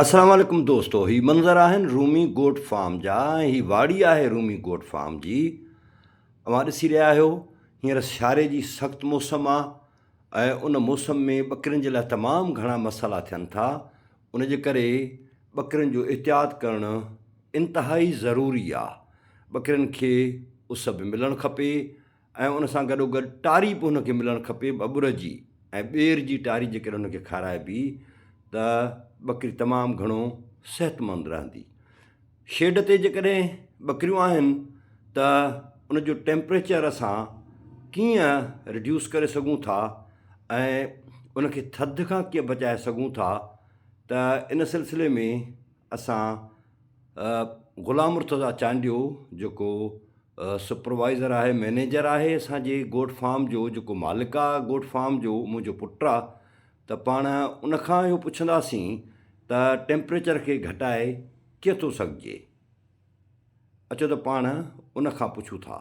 السلام عليڪم دوستو هي منظر آهن رومي گوٽ فارم جا ۽ هي واڙي آهي رومي گوٽ فارم جي اوهان ڏسي رهيا آهيو هينئر سياري جي سخت موسم آهي ۽ ان موسم ۾ ٻڪرين جي لاء تمام گهڻا مسئلا ٿين ٿا ان جي ڪري ٻڪرين جو احتياط ڪرڻ انتهائي ضروري آهي ٻڪرين کي اس به ملڻ کپي ۽ ان سان گڏوگڏ ٽاري به هن کي ملڻ کپي ٻٻر جي ۽ ٻير جي ٽاري جيڪڏهن هن کي کارائبي ته ٻڪري تمام گهڻو صحتمند رهندي. شيڊ تي جيڪڏهن ٻڪريون آهن ته ان جو ٽيمپريچر اسان ڪيئن رڊيوس ڪري سگهون ٿا ۽ ان کي ٿڌ کان ڪيئن بچائي سگهون ٿا ته ان سلسلي ۾ اسان غلام مرتضيٰ چانڊيو جيڪو سپروائيزر آهي مئنيجر آهي اسان جي گوٽ فارم جو جيڪو مالڪ آ گوٽ فارم جو منهنجو پٽ آ ته پاڻ ان کان اهو پڇنداسين ته ٽيمپريچر کي گهٽائي ڪيئن ٿو سگهجي اچو ته پاڻ ان کان پڇون ٿا.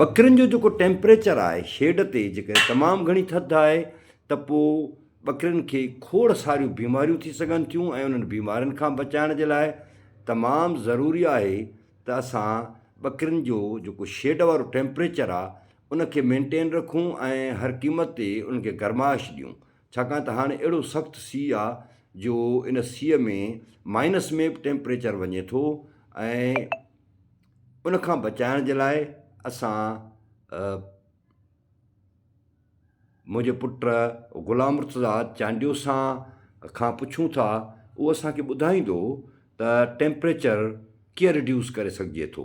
ٻڪرين جو جيڪو ٽيمپريچر آهي شيڊ تي جيڪڏهن تمام گهڻي ٿڌ آهي ته پوء ٻڪرين کي کوڙ ساريون بيماريون ٿي سگهن ٿيون ۽ انهن بيمارين کان بچائڻ جي لاء تمام ضروري آهي ته اسان ٻڪرين جو جيڪو شيڊ وارو ٽيمپريچر آهي ان کي مينٽين رکون ۽ هر قيمت تي ان کي گرمائش ڏيون ڇاڪاڻ ته هاڻي اهڙو سخت سيء آ جو ان سيء ۾ مائنس ۾ به ٽيمپريچر وڃي ٿو ۽ ان کان بچائڻ جي لاء اسان منهنجي پٽ غلام مرتضيٰ چانڊيو سان کان پڇون ٿا اهو اسانکي ٻڌائيندو ته ٽيمپريچر ڪيئن رڊيوس ڪري سگهجي ٿو.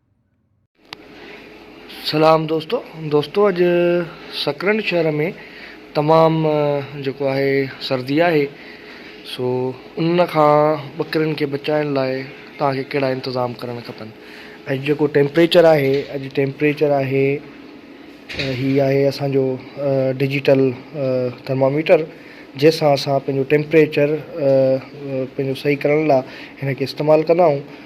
سلام دوستو دوستو اڄ سڪرنڊ شهر ۾ تمام جيڪو آهي سردي آهي سو ان کان ٻڪرين کي بچائڻ لاء تان کي ڪهڙا انتظام ڪرڻ کپن اڄ جيڪو ٽيمپريچر آهي اڄ ٽيمپريچر آهي هي آهي اسان جو ڊجيٽل ٿرماميٽر جنهن سان اسان پنهنجو ٽيمپريچر پنهنجو صحيح ڪرڻ لاء هن کي استعمال ڪندا آهيون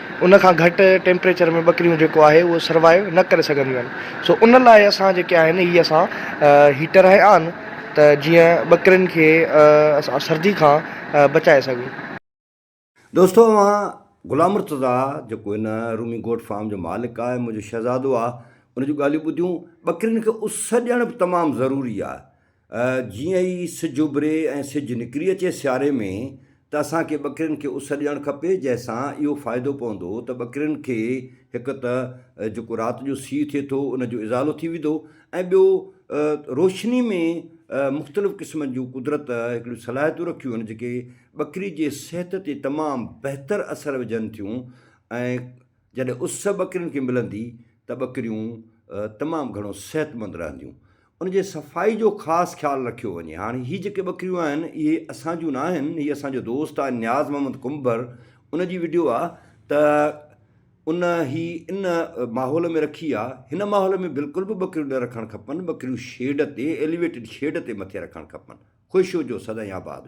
ان کان گهٽ ٽيمپريچر ۾ ٻڪريون جيڪو آهي اهو سروائيو نه ڪري سگهنديون آهن سو ان لاء اسان جيڪي آهن هي اسان هيٽر هنيا آهن ته جيئن ٻڪرين کي اسان سردي کان بچائي سگهون. دوستو اوهان غلام مرتضيٰ جيڪو هن رومي گوٽ فارم جو مالڪ آهي منهنجو شهزادو آهي ان جون ڳالهيون ٻڌيون ٻڪرين کي اس ڏيڻ به تمام ضروري آهي جيئن ئي سج اڀري ۽ سج نڪري اچي سياري ۾ ته اسان کي ٻڪرين کي اس ڏيڻ کپي جنهن سان اهو فائدو پوندو ته ٻڪرين کي هڪ ته جيڪو رات جو سيء ٿئي ٿو ان جو ازالو ٿي ويندو ۽ ٻيو روشني ۾ مختلف قسمن جون قدرت هڪڙيون صلاحيتون رکيون آهن جيڪي ٻڪري جي صحت تي تمام بهتر اثر وجهن ٿيون ۽ جڏهن اس ٻڪرين کي ملندي ته ٻڪريون تمام گهڻو صحتمند رهنديون. ان جي صفائي جو خاص خيال رکيو وڃي. هاڻ هي جيڪي ٻڪريون آهن اهي اسان جون ناهن هي اسان جو دوست آهي نياز محمد ڪنڀر ان جي وڊيو آهي ته ان هي ان ماحول ۾ رکي آهي هن ماحول ۾ بلڪل به ٻڪريون نه رکڻ کپن ٻڪريون شيڊ تي ايليويٽيڊ شيڊ تي مٿي رکڻ کپن خوش هجو سدائين آباد هجو.